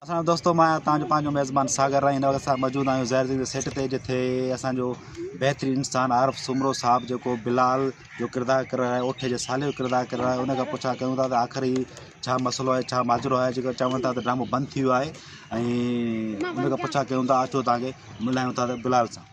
اسلام دوستو مان آهيان تهانجو پنهنجو ميزبان ساگر ۽ هن وقت اسان موجود آهيون زهير زين جي سيٽ تي جتي اسان جو بهترين انسان عارف سومرو صاحب جيڪو بلال جو ڪردار ڪري رهيو اوٺي جي سالي جو ڪردار ڪري رهيو ان کان پڇا ڪيون ٿا ته آخر هي ڇا مسئلو آهي ڇا ماجرو آهي جيڪو چون ٿا ته ڊرامو بند ٿي ويو آهي ۽ ان کان پڇا ڪيون ٿا اچو تهانکي ملايون ٿا ته بلال سان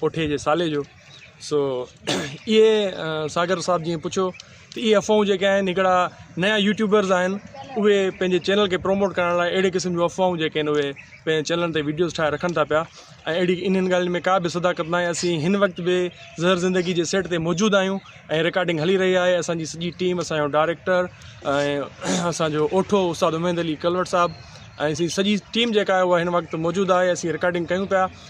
پوٺي جي سالي جو سو اهي ساگر صاحب جيئن پڇيو ته اهي افواهون جيڪي آهن هڪڙا نيا يوٽيوبرز آهن اهي پنهنجي چينل کي پروموٽ ڪرڻ لاء اهڙي قسم جون افواهون جيڪي آهن اهي پنهنجي چينلن تي ويڊيوز ٺاهي رکن ٿا پيا ۽ اهڙي انهن ڳالهين ۾ ڪا به صداقت ناهي اسين هن وقت به زهر زندگي جي سيٽ تي موجود آهيون ۽ رڪارڊنگ هلي رهي آهي اسانجي سڄي ٽيم اسانجو ڊائريڪٽر ۽ اسانجو اوٺو استاد اميد علي ڪلوٽ صاحب ۽ اسين سڄي ٽيم جيڪا آهي اها هن وقت موجود آهي اسين رڪارڊنگ ڪيون پيا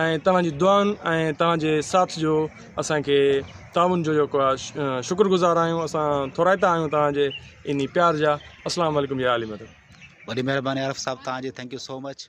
۽ توهان جي دعائن ۽ توهان جي ساٿ جو اسان کي تعاون جو جيڪو آ شڪر گذار آهيون اسان ٿورائتا آهيون توهان جي انهي پيار جا اسلام عليڪم يا اهل مدد. وڏي مهرباني عارف صاحب توهان جي ٿينڪ يو سو مچ.